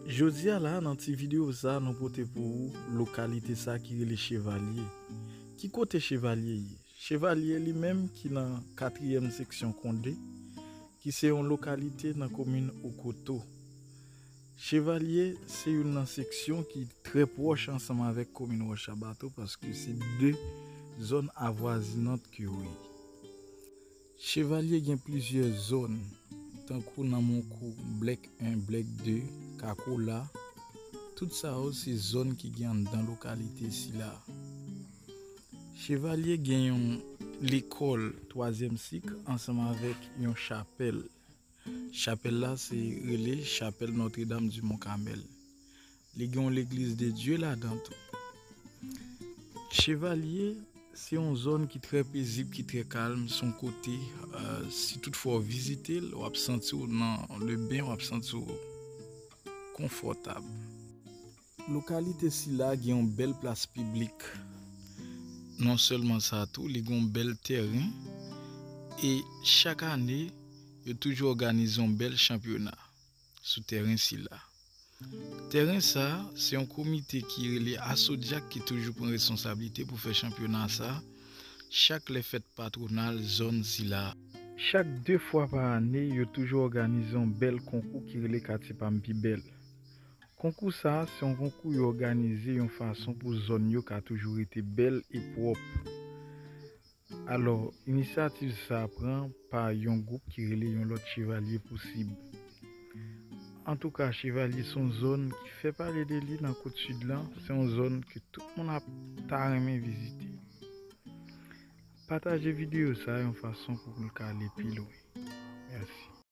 Jodi a la nan ti video sa nou pote pou ou lokalite sa ki rele Chevalye. Ki kote Chevalye ye? Chevalye li menm ki nan katriyèm seksyon Konde ki se yon lokalite nan komin Okoto. Chevalye se youn nan seksyon ki trè pwòch ansanm avèk komin Wòchabato paske se 2 zòn avwazinant ke yo ye. Chevalye gen plizyè zòn, tankou nan mon kou Blèk 1, Blèk 2, Kakola, tout sa yo se zòn ki gen anndan lokalite sila a. Chevalye gen yon lekòl twazyèm sik ansanm avèk yon chapèl. Chapèl la se rele chapèl Notre Dame du Mont Carmel. Li gen yon legliz de Dye ladan tou. Chevalye, se yon zòn ki trè pezib, ki trè kalm, se yon kote si tout fwa ou vizite l, w ap santi w nan le ben, w ap santi w konfòtab. Lokalite sila gen yon bèl plas piblik. Non sèlman sa tou li gen yon bèl tèren e chak ane yo toujou òganize yon bèl chanpyona sou tèren sila. Tèren sa se yon komite ki rele Asodyak ki toujou pran responsablite pou fè chanpyona sa chak lè fèt patwonal zòn sila. Chak 2 fwa pa ane yo toujou òganize yon bèl konkou ki rele Katye pa m pi bèl. Konkou sa a se yon konkou yo òganize yon fason pou zòn yo ka toujou rete bèl e pwòp. Alò, inisyativ sa a pran pa yon gwoup ki rele yon lòt Chevalye Pousib. Antouka, Chevalye se yon zòn ki fè pale de li nan kot Sid lan, se yon zòn ke tout moun ap ta renmen vizite. Pataje videyo sa a yon fason pou l ka ale pi lwen. Mèsi.